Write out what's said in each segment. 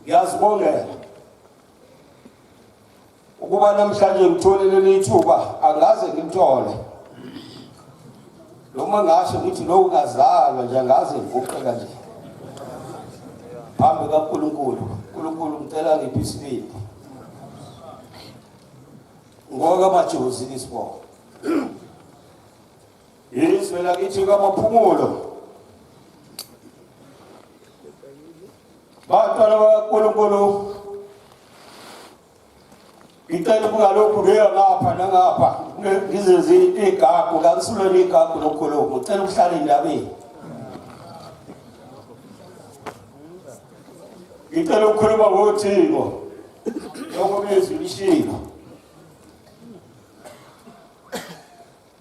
Ngiyazibongela ukuba namhlanje ngithole leli thuba angaze ngimthole noma ngasho ngithi lowo ngazalwa nje angaze ngivuqe kanje phambi kaNkulunkulu uNkulunkulu ngicela ngiphe isibindi ngoka majozi isibongo yizwe lakithi kamaphumulo Bantwana bakaNkulunkulu, ngicela ukuba lokhu kuyo ngapha nangapha ngizenze igagu kakusulweni igagu lokukhuluma ngicela ukuhlala endabeni ngicela ukukhuluma ngothiko lokho bezwi lishilo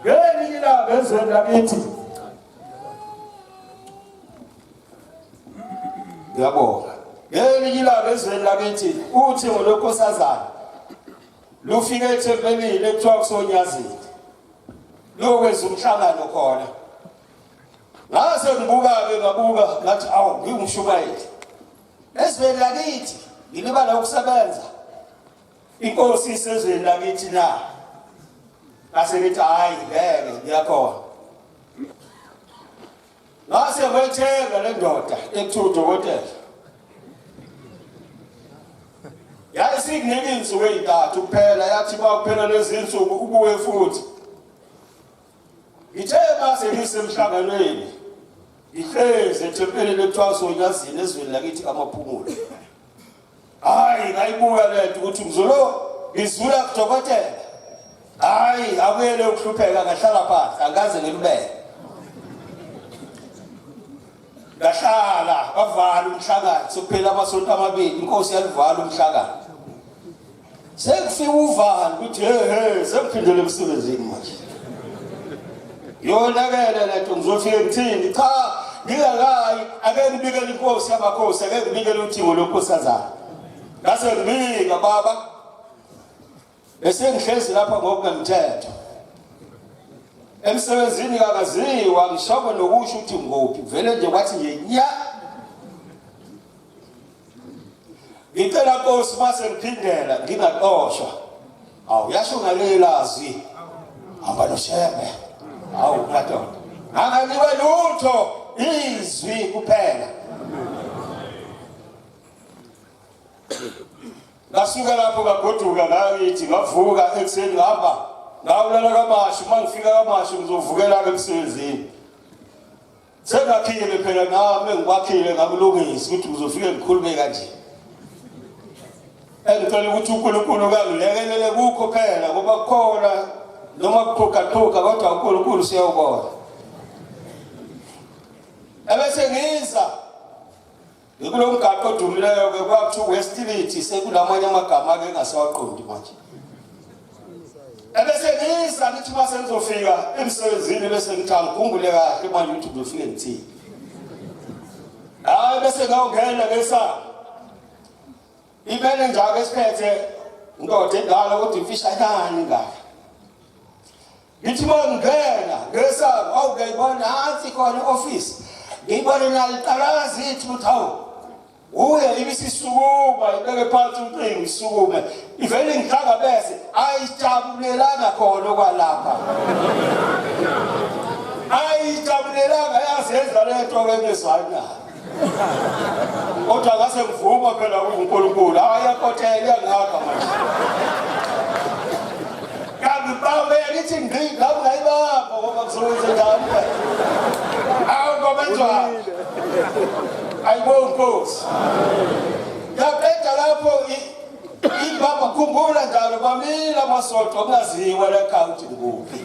ngelinye ilanga ezweni lakithi ngiyabonga ngelinye ilanga ezweni lakithi uthi ngolokhosazana lufike ethempelini ekuthiwa kusonyazini lokwenza umhlangano khona ngase ngibuka-ke ngabuka ngathi awu ngiwumshumayeli ezweni lakithi ngilibala ukusebenza inkosi isezweni lakithi na ngase ngithi hhayi ngeke ngiyakhona ngase kwetheka le ndoda ekuthiwa udokotela yayisikunike iy'nsuku ey'ntathu kuphela yathi kwakuphela lezi nsuku ubuye futhi Ngithe mase ngisemhlanganweni ngihlezi ethempelini ekuthiwa sonyazini ezweni lakithi kamaphumulo hayi ngayibuka le nto ukuthi mzulu ngizula kudokotela hayi abuyele ukuhlupheka ngahlala phansi angaze ngilubeke ngahlala bavala umhlangano sokuphela amasonto amabili inkosi yalivala umhlangano sekufika uvalo ukuthi hehe sekuphindele emsebenzini manje yonakele leto ngizofike ngithini cha ngingakayi ake ngibikele inkosi yamakhosi ake ngibikele uthingo lonkosazana ngase ngibika baba esengihlezi lapha ngokungemthetho emsebenzini kakaziwa ngishawe nokusho ukuthi nguphi vele nje kwathi nje nya ngicela nkosi mase ngiphindela ngingaxoshwa awu yasho ngalelazi hamba noshembe awu madoda anganiwe lutho izwi kuphela ngasuka lapho ngagoduka ngayithi ngavuka ekuseni ngihamba ngawulala kamashu uma ngifika kamashu ngizovukela-ke emsebenzini Sengakhile phela nami engikwakhile ngakulungisa ukuthi ngizofike ngikhulume kanje. Engicela ukuthi uNkulunkulu kangilekelele kukho phela ngoba kukhona noma kuqhugaqhuga kodwa uNkulunkulu siyawubona. Ebese ngiza Ngikulo mgaqo odumileyo-ke kwakuthiwa uwestility sekulamanye amagama-ke engasawaqondi manje ebese ngiyisa ngithi uma sengizofika emsebenzini bese ngithi angikhumbule kahle uma ngithi ngizofike ngithini hayi bese ngawungena ngesango imele njalo esiphethe ndoda endala kodwa imfishanyane ingaka Ngithi uma ngingena ngesango awu ngiyayibona nansi khona i-ofisi ngiyibone naliqalaza ithi ukuthi hawu uye ibisisukuma ibeke phansi umqingo isukume ivele ngihlanga bese ayijabulelanga khona okwalapha ayijabulelanga yazenza le nto ke ngezwanayo kodwa ngase ngivuma phela uNkulunkulu ayakotela iyangaka manje kambe baba yakithi ngqi ngabe ngayibamba ngoba kuzowenza njani awu ngoba njani ayibo nkosi yaqeda lapho ibaba khumbula njalo bamile amasoco kungaziwa le county nguphi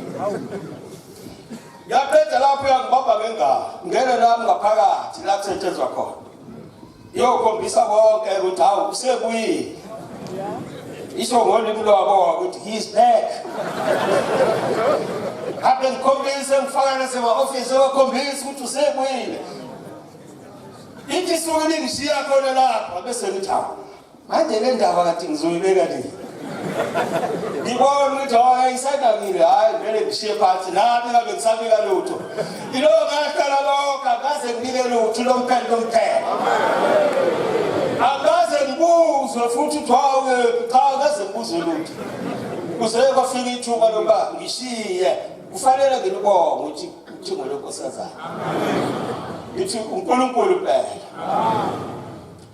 Yaqeda lapho yangibamba ngengalo. Ngene lami ngaphakathi la kusetshenzwa khona. Yokhombisa konke ukuthi hawu usebuyile. Isho ngolimi lwabo ukuthi he's back. Kade ngikhombise ngifaka nasema-ofisi ebakhombisa ukuthi usebuyile. Ithi isuke lingishiya khona lapha bese ngithi hawu Manje le ndaba kade ngizoyibeka le. Ngibona ukuthi hayi ayisadakile hayi vele ngishiye phansi nami ngabe ngisabika lutho. Ilo ngaqala lokho akaze ngibike lutho lo mphela lo mphela. Akaze ngibuzwe futhi ukuthi hawu cha akaze ngibuzwe lutho. Kuze kwafika ithuba lokuba ngishiye kufanele ngilibonge ukuthi uthingo lonkosazana. Ngithi uNkulunkulu phela. Amen.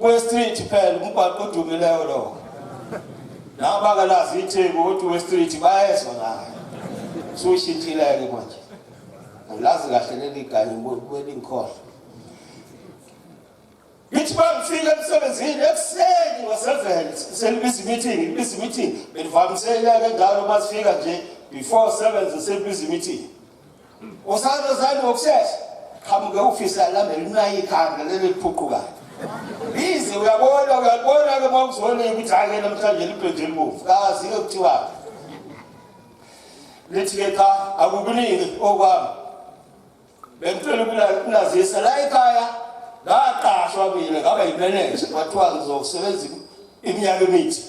Westreet phela umgwaqo odumileyo lowo nabo bangalazi itheku ukuthi westreet bayezwa ngayo sushintshileke manje angilazi kahle leli ganye kwelingikhona ngithi bangifika emsebenzini ekuseni ngoseven selibiza imeeting libiza imeeting benivamisele ke njalo uma sifika nje before seven selibiza imeeting Usando zani ngokusesha qhamuke ufisa lami linayi ikhanda leli liphuqukayo. Bizi uyabona uyabona ke mawuzona ukuthi ake namhlanje libheje imbuvu. Kazi ke kuthiwa. Lithi ke cha akukuningi okwami. Bengicela ukunazisa la ekhaya ngaqashwa mina ngaba yimeneja kwathiwa ngizosebenza iminyaka emithi.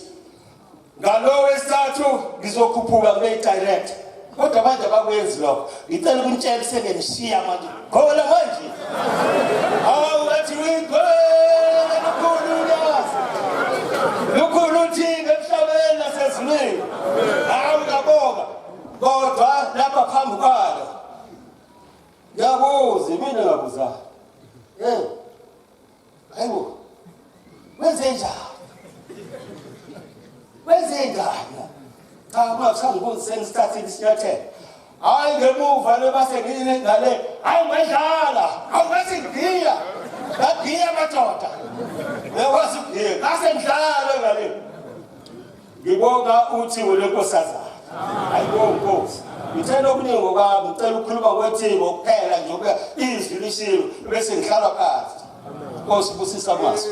ngalo wesithathu ngizokhuphuka kube direct kodwa manje abakwenzi lokho ngicela ukuntshela sengenishiya manje khona manje hawu athi wigwele lukhulu ulwazi lukhulu uthini emhlabeni nasezulwini hawu ngabonga kodwa lapha phambi kwalo ngiyabuza mina ngabuza um Ayibo. Wenze njani? Wenze njani? Cha kungakushanga ukuthi sengisithathe isinyathelo. Hayi ngemuva lebase ngine ngale. Hayi ngadlala. Awukathi ngiya. Ngagiya madoda. Ngekwazi ugiya. Ngase ngidlala ngale. Ngibonga uthi welonkosazana. Hayibo Nkosi. Ngithanda okuningi ngokwami, ngicela ukukhuluma kwethi ngokuphela nje ukuba izwi lishiwe bese ngihlala phansi. Nkosi busisa mazwi.